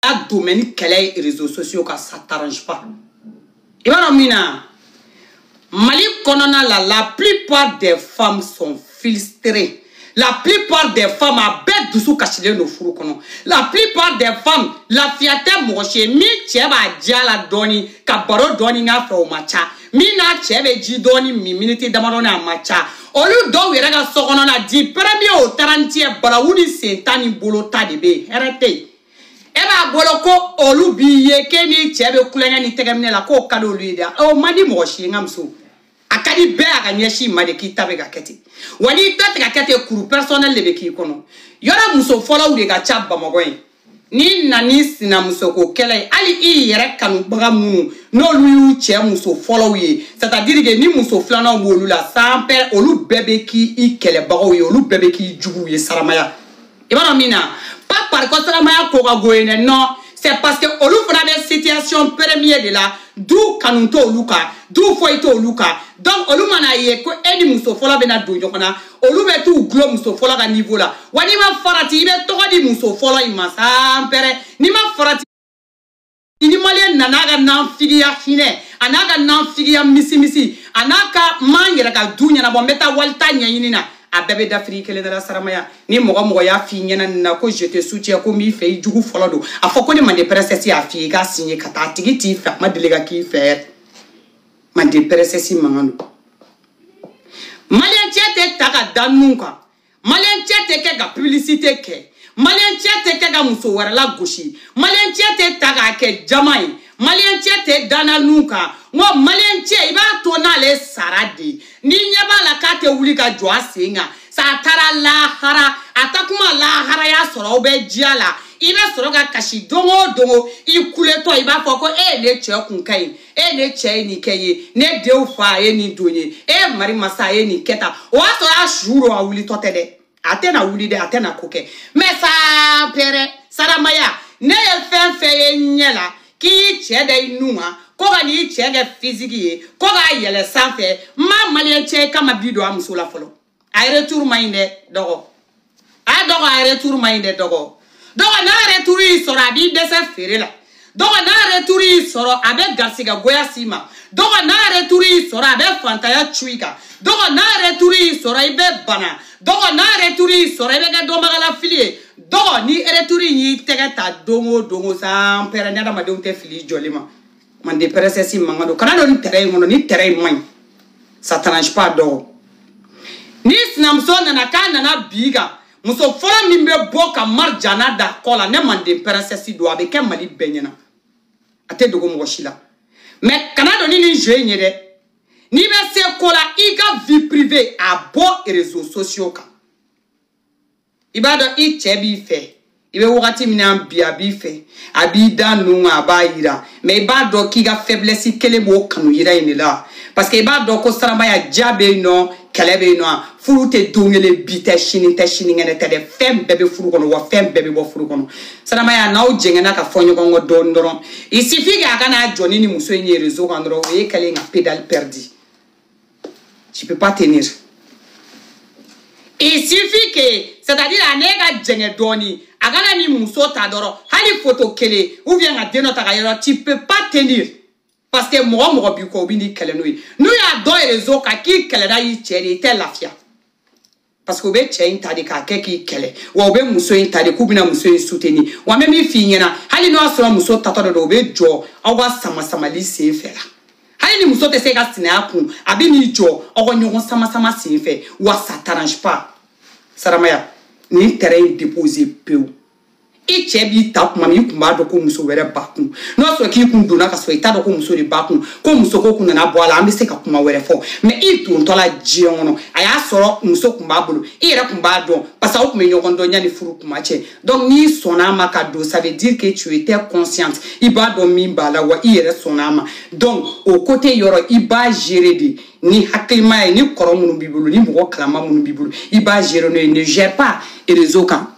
a domaine kɛlɛ ye réseaux sociaux kan ça t'arrange pas i b'a dɔn min na mali kɔnɔna la la plupart des femmes sont frustrées la plupart des femmes a bɛɛ dusu kasilen don furu kɔnɔ la plupart des femmes lafiya tɛ mɔgɔ si ye min cɛ b'a diya la dɔɔni ka baro dɔɔni k'a fɛ o ma ca min n'a cɛ bɛ ji dɔɔni min miniti damadɔni a ma ca olu dɔw yɛrɛ ka sokɔnɔna du premier au trente et un balawu ni sen tan ni bolo ta de bɛ yen hɛrɛ tɛ yen e b'a bolo ko olu b'i ye k'e n'i cɛ bɛ kulonkɛ ni tɛgɛminɛ la k'o ka di olu ye dɛ o man di mɔgɔ si ye n ka muso a ka di bɛɛ a ka ɲɛsin ma de k'i ta bɛ ka kɛ ten wa n'i ta tɛ ka kɛ ten kuru personnel de bɛ k'i kɔnɔ yɔrɔ muso fɔlɔw de ka ca bamakɔ yen n'i na n'i sinamusoko kɛlɛ ye hali i yɛrɛ kanubaga minnu n'olu y'u cɛ muso fɔlɔw ye c'est-à-dire que ni muso filananw b'olu la san pɛrɛ olu bɛɛ bɛ k'i i kɛlɛbagaw ye olu bɛɛ bɛ k'i juguw ye saramaya i b'a dɔn min na pas par ko saramaya ko ka go ye dɛ non c'est parce que olu fana bɛ situation premier de la d'où kanu t'olu kan d'où foyi t'olu kan donc olu mana ye ko e ni muso fɔlɔ bɛna don ɲɔgɔn na olu bɛ t'u gulɔ muso fɔlɔ ka niveau la wa n'i ma farati i bɛ tɔgɔ di muso fɔlɔ in ma san pɛrɛ n'i ma farati ni maliyɛn nana a ka nanfigiya hinɛ a n'a ka nanfigiya misimisi a n'a ka n ma n yɛrɛ ka du ɲɛnabɔ n bɛ taa wali ta ɲɛɲini na a bɛɛ bɛ dafiri i kelen da la saramaya ni mɔgɔ o mɔgɔ y'a f'i ɲɛna nin na ko je te soutiens ko n b'i fɛ i jugu fɔlɔ don a fɔ ko ne mande princesse y'a f'i ye i k'a siɲe ka taa a tigi t'i fɛ a ma deli ka k'i fɛ yɛrɛ manden princesse mankan don maliyɛncɛ tɛ ta ka da nun kan maliyɛncɛ tɛ kɛ ka pibilisite kɛ maliyɛncɛ tɛ kɛ ka muso wɛrɛ lagosi maliyɛncɛ tɛ ta k'a kɛ jama ye maliyɛncɛ tɛ da nun kan n ko maliyɛncɛ i b'a to n'ale sara de ye n'i ɲɛ b'a la k'a tɛ wuli ka jɔ a sen kan sa a taara lahara a ta kuma laharaya sɔrɔ aw bɛ diya la i bɛ sɔrɔ ka kasi don o don i kuletɔ i b'a fɔ ko ee ne cɛ kun ka ɲi e ne cɛ ye nin kɛ ye ne denw fa a ye nin don ye e mari masa a ye nin kɛ tan o y'a sɔrɔ a su don a wulitɔ tɛ dɛ a tɛna wuli dɛ a tɛna ko kɛ mais saa pɛrɛ saramaya ne ye fɛn o fɛn ye ɲɛ la k'i y'i cɛ da i nun ma ko ka n'i cɛ kɛ physique ye ko k'a yɛlɛ sanfɛ n ma maliyɛn cɛ kama bi dɔn a muso la fɔlɔ a retour man ɲi dɛ dɔgɔ a dɔgɔ a retour man ɲi dɛ dɔgɔ dɔgɔ n'a retour y'i sɔrɔ a b'i dɛsɛ feere la dɔgɔ n'a retour y'i sɔrɔ a bɛ garisigɛ goya s'i ma dɔgɔ n'a retour y'i sɔrɔ a bɛ fantanya cu i kan dɔgɔ n'a retour y'i sɔrɔ i bɛ bana dɔgɔ n'a retour y'i sɔrɔ i bɛ kɛ dɔnbagalafili ye dɔgɔ ni retour in y'i tɛgɛ ta don o don o san pɛrɛ ni adamadenw tɛ fili jɔli ma manden princesse mankan don kana don nin terrain in kɔnɔ nin terrain in man ɲi ça t'arrange pas dɔw ni sinamuso nana k'a nana bi kan muso fɔlɔ min bɛ bɔ ka marijana da kɔ la ne manden princesse don a bɛ kɛ mali bɛɛ ɲɛna a tɛ dogo mɔgɔ si la mais kana don ni nin jeu in ye dɛ n'i bɛ se ko la i ka vie privée a bɔ réseaux sociaux kan i b'a dɔn i cɛ b'i fɛ i bɛ wagati min na bi a b'i fɛ a b'i da ninnu kan a b'a yira mais i b'a dɔn k'i ka faiblesse kelen b'o kanu yira in de la parce que i b'a dɔn ko saramaya diya bɛ yen nɔ kɛlɛ bɛ yen nɔ furu tɛ don kelen bi tɛ sini tɛ sinikɛnɛ tɛ dɛ fɛn bɛɛ bɛ furu kɔnɔ wa fɛn bɛɛ bɛ bɔ furu kɔnɔ saramaya n'aw jɛngɛnna ka fɔ ɲɔgɔn kɔ dɔɔni dɔrɔn il suffit k'a ka na jɔ ni nin muso in ye réseau kan dɔrɔn o ye kɛlen ka pédale perdu tu peux pas tenir il suffit que c'est à dire a n'e ka jɛngɛ dɔɔni a ka na nin muso ta dɔrɔn hali foto kelen ou bien ka den dɔ ta ka yɔrɔ tu peux pas tenir parce que mɔgɔ mɔgɔ b'i kɔ u bɛn'i kɛlɛ n'o ye n'u y'a dɔn réseau kan k'i kɛlɛda y'i cɛ de ye i tɛ lafiya parce que u bɛ cɛ in ta de k'a kɛ k'i kɛlɛ wa u bɛ muso in ta de k'u bɛna muso in soutenir wa n bɛ min f'i ɲɛna hali n'o y'a sɔrɔ muso taatɔ de don o bɛ jɔ aw ka sama samali sen fɛ la hali ni muso tɛ se ka sinaya kun a bɛn'i jɔ aw ka ɲɔgɔn sama sama sen fɛ wa ça t'arrange pas saramaya nin terrain in déposer pewu. i cɛ b'i ta kuma min i kun b'a dɔn ko muso wɛrɛ b'a kun n'o y'a sɔrɔ k'i kun donna ka sɔrɔ i t'a dɔn ko muso de b'a kun ko muso ko kun nana bɔ a la an bɛ se ka kuma wɛrɛ fɔ mais i dontɔ la du in kɔnɔ a y'a sɔrɔ muso kun b'a bolo i yɛrɛ kun b'a dɔn parce que aw kun bɛ ɲɔgɔn dɔn yanni furu kuma cɛ donc n'i sɔnna a ma ka don ça veut dire que tu étais consciente i b'a dɔn min b'a la wa i yɛrɛ sɔnna a ma donc o côté yɔrɔ i b'a gérer de ni hakilima ye ni kɔrɔ minnu b'i bolo ni mɔgɔ kalama minnu b'i bolo i b'a gérer n'o ye ne gère pas réseau kan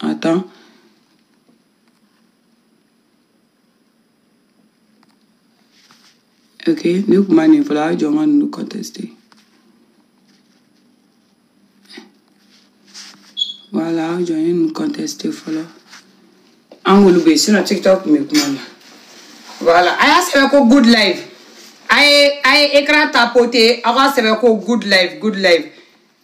Attends. Ok, ne kun ma nin fɔlɔ a jɔ n ka ninnu conteste. Voilà, a jɔ n ye ninnu conteste fɔlɔ. An k'olu bɛ yen sinon TikTok kun bɛ kuma na. Voilà, a y'a sɛbɛn ko good life. A ye a ye écran tapoter aw k'a sɛbɛn ko good life good life.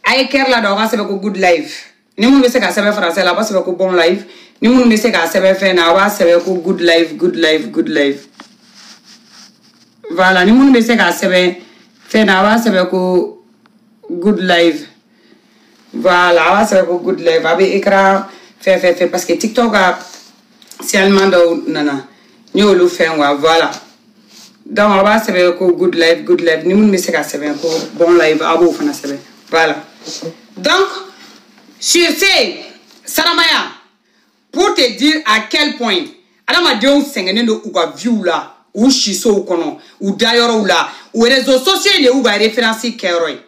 A ye cœur ladon aw k'a sɛbɛn ko good life. ni minnu bɛ se k'a sɛbɛn français la a b'a sɛbɛn ko bon life ni minnu bɛ se k'a sɛbɛn fɛn na a b'a sɛbɛn ko good life good life good life voilà ni minnu bɛ se k'a sɛbɛn fɛn na a b'a sɛbɛn ko good life voilà a b'a sɛbɛn ko good life a bɛ écran fɛn fɛn fɛn parce que tiktok ka seulement dɔw nana n y'olu fɛn wa voilà donc aw b'a sɛbɛn ko good life good life ni minnu bɛ se ka sɛbɛn ko bon life aw b'o fana sɛbɛn voilà donc sur ce saramaya pour te dire à quel point adamadenw sɛgɛnnen don u ka viw la u sisow kɔnɔ u dayɔrɔw la u réseaux sociaux de y'u ka référence kɛyɔrɔ ye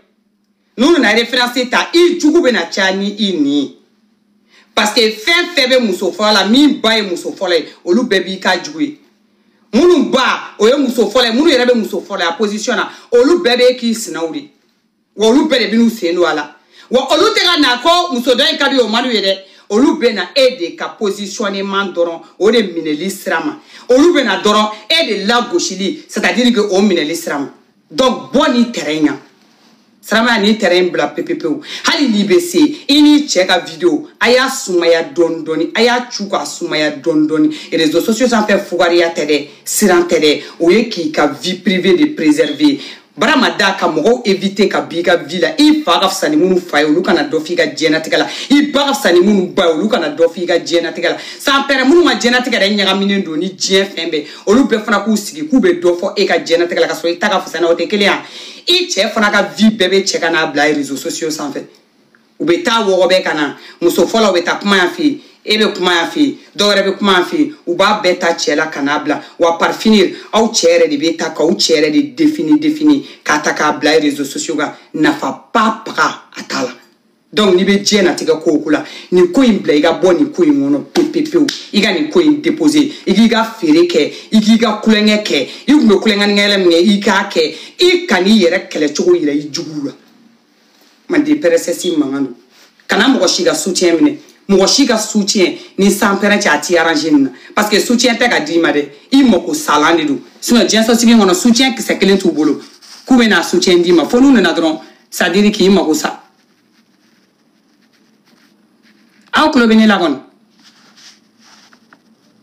n'u nana référence ta i jugu bɛna caya ni nin ye parce que fɛn fɛn bɛ muso fɔlɔ la min ba ye muso fɔlɔ ye olu bɛɛ b'i ka jugu ye minnu ba o ye muso fɔlɔ ye minnu yɛrɛ bɛ muso fɔlɔ ya position na olu bɛɛ bɛ k'i sinaw de wa olu bɛɛ de bɛn'u sen don a la wa olu tɛ ka na ko muso dɔ in ka di o man d'u ye dɛ olu bɛ na e de ka positionnement dɔrɔn o de minɛli sira ma olu bɛ na dɔrɔn e de lagosili c'est-à-dire que o minɛli sira ma donc bɔ nin terrain yan saramaya nin terrain bila pepepewu hali n'i bɛ se i n'i cɛ ka video a y'a sumaya dɔɔni dɔɔni a y'a cu k'a sumaya dɔɔni dɔɔni réseaux sociaux sanfɛ fugariya tɛ dɛ siran tɛ dɛ o ye k'i ka vie privée de préserver barama da ka mɔgɔw éviter ka b'i ka vie la i fa ka fisa ni minnu fa ye olu kana dɔ f'i ka diɲɛnatigɛ la i ba ka fisa ni minnu ba ye olu kana dɔ f'i ka diɲɛnatigɛ la sanpɛrɛn minnu ma diɲɛnatigɛ yɛrɛ ɲagaminen don ni diɲɛ fɛn bɛɛ olu bɛɛ fana k'u sigi k'u bɛ dɔ fɔ e ka diɲɛnatigɛ la ka sɔrɔ i ta ka fisa a n'o tɛ kelen ye i cɛ fana ka vie bɛɛ bɛ cɛ ka n'a bila réseaux sociaux sanfɛ u bɛ taa wɔgɔbɛ ka na muso fɔlɔw bɛ taa kuma yan fɛ yen e bɛ kuma yan fɛ yen dɔw wɛrɛ bɛ kuma yan fɛ yen u b'a bɛɛ ta cɛ la ka n'a bila wa par finir aw cɛ yɛrɛ de bɛ taa k'aw cɛ yɛrɛ de défini défini k'a ta k'a bila réseaux sociaux kan nafa ba paga a t'a la donc n'i bɛ diɲɛnatigɛ ko o ko la nin ko in bila i ka bɔ nin ko in kɔnɔ pepepewu i ka nin ko in déposer i k'i ka feere kɛ i k'i ka tulonkɛ kɛ i tun bɛ tulonkɛ ni yɛlɛ min kɛ i k'a kɛ i kan'i yɛrɛ kɛlɛ cogo yira i juguw la manden princesse mankan don kana mɔgɔ si ka soutien minɛ mɔgɔ si ka soutien ni san pɛrɛn cɛ a t'i arranger nin na parce que soutien tɛ ka d'i ma dɛ i mako salan de don sinon diɲɛsosigi kɔnɔ soutien kisɛ kelen t'u bolo k'u bɛ n'a soutien d'i ma fo n'u nana dɔrɔn c'est-à-dire k'i mago sa aw tulo bɛ ne la kɔni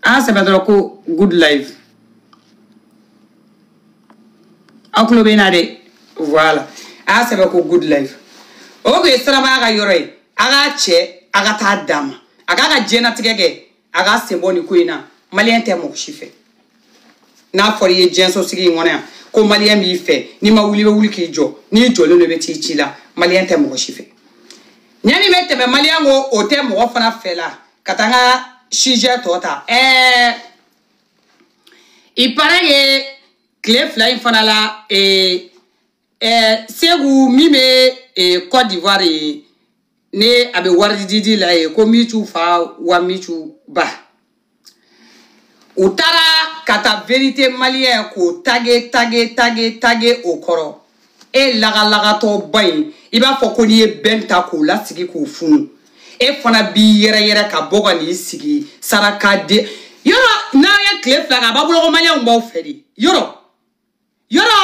a y'a sɛbɛn dɔrɔn ko good life aw tulo bɛ n na dɛ voilà a y'a sɛbɛn ko good life o kun ye saramaya ka yɔrɔ ye a k'a cɛ a ka taa d'a ma a k'a ka diɲɛnatigɛ kɛ a ka sen bɔ nin ko in na maliyɛn tɛ mɔgɔ si fɛ n'a fɔra i ye diɲɛsosigi in kɔnɔ yan ko maliyɛn b'i fɛ n'i ma wuli i bɛ wuli k'i jɔ n'i jɔlen don i bɛ t'i ci la maliyɛn tɛ mɔgɔ si fɛ ɲani bɛ tɛmɛ maliyɛn ko o tɛ mɔgɔ fana fɛ la ka taa n ka sujet tɔ ta ɛɛ il paraît que tile fila in fana la ee ɛɛ segu min bɛ ee cote d'ivoire yen ne a bɛ wari didi la yen ko micu fa wa micu ba u taara ka taa verite maliyɛn k'o tage tage tage tage o kɔrɔ e lagalagatɔba in i b'a fɔ ko n'i ye bɛn ta k'o lasigi k'o funu e fana b'i yɛrɛ yɛrɛ ka bɔ ka n'i sigi saraka de yɔrɔ n'a ye tile fila kɛ a b'aw bolo ko maliyɛnw b'aw fɛ de yɔrɔ yɔrɔ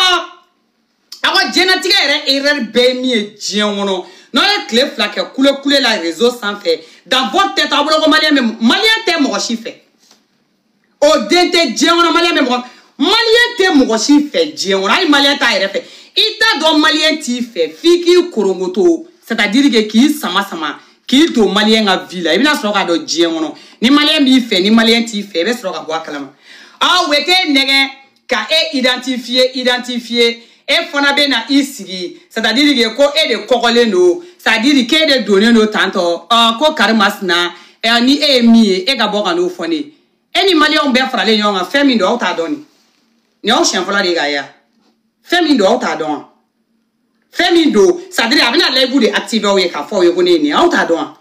aw ka diɲɛnatigɛ yɛrɛ erreur bɛɛ ye min ye diɲɛ kɔnɔ n'aw ye tile fila kɛ kule kule la réseau sanfɛ dans votre tête aw bolo ko maliyɛn bɛ maliyɛn tɛ mɔgɔ si fɛ o den tɛ diɲɛ kɔnɔ maliyɛn bɛ mɔgɔ maliyɛn tɛ mɔgɔ si fɛ diɲɛ kɔnɔ hali maliyɛn t'a yɛrɛ fɛ i t'a dɔn maliyɛn t'i fɛ f'i k'i korongoto c'est à dire que k'i sama sama k'i don maliyɛn ka vie la i bɛna sɔrɔ k'a dɔn diɲɛ kɔnɔ ni maliyɛn b'i fɛ ni maliyɛn t'i fɛ i bɛ sɔrɔ ka bɔ a kalama aw wete nɛgɛ ka e identifier identifier e fana bɛ na i sigi c'est à dire que ko e de kɔgɔlen don c'est à dire k'e de donnen don tantôt ko karimasina ɛ ni e ye min ye e ka bɔ ka n'o fɔ ne ye e ni maliyɛnw bɛɛ faralen ɲɔgɔn kan fɛn min don aw t'a dɔn nin nin y'aw siɲɛ fɔlɔ de ye k'a ye wa fɛn min don aw t'a dɔn wa fɛn min don c'est à dire a bɛna live de activer aw ye k'a fɔ aw ye ko ne ye nin ye aw t'a dɔn wa.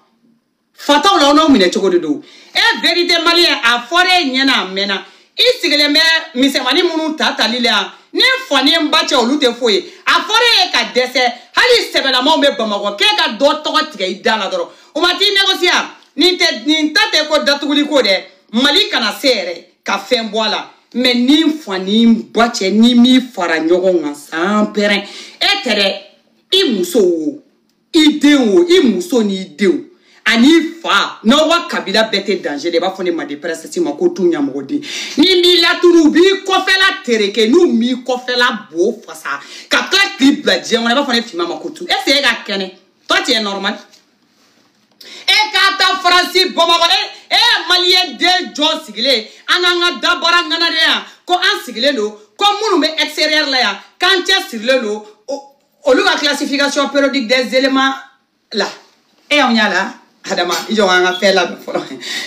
fataw la aw n'aw minɛ cogo de don e verite maliyɛn a fɔra e ɲɛna a mɛnna i sigilen bɛ misɛnmani minnu ta tali la yan n'i fa n'i ba cɛ olu tɛ foyi ye a fɔra e ye ka dɛsɛ hali sɛbɛlamaw bɛ bamakɔ k'e ka dɔ tɔgɔ tigɛ i da la dɔrɔn o ma t'i négocier nin tɛ nin ta tɛ ko datuguli ko dɛ mali kana se yɛrɛ ka fɛn bɔ a la mais n'i fa n'i ba cɛ ni min fara ɲɔgɔn kan sans père e tɛ dɛ i muso wo i denw o i muso n'i denw an'i fa n'aw ka kabila bɛɛ tɛ danger de i b'a fɔ ne ma de pɛrɛsɛti ma ko tu ɲamɔgɔden n'u m'i laturu u b'i kɔfɛla tereke n'u m'i kɔfɛla bo fasa ka tila k'i bila diɲɛ kɔnɔ i b'a fɔ ne finma ma ko tu est ce que e ka kɛnɛ toi tu es normal e ka taa faransi bamakɔ e e ye maliyɛn de jɔn sigilen an n'an ka dabara ŋanadenya ko an sigilen don ko minnu bɛ extérieur la yan k'an cɛ sirilen don olu ka classification périodique des éléments la e y'anw y'a la adama i jɔ an ka fɛn labɛn fɔlɔ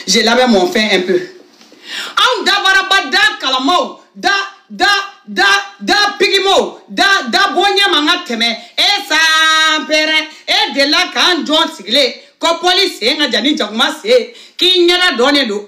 je labɛn mon fɛn un peu anw dabaraba da kalamaw da da da da pigimaw da da bonya man ka tɛmɛ e sans père e delila k'an jɔn sigilen kɔpɔli sen ka jan ni jakuma sen k'i ɲɛda dɔnnen don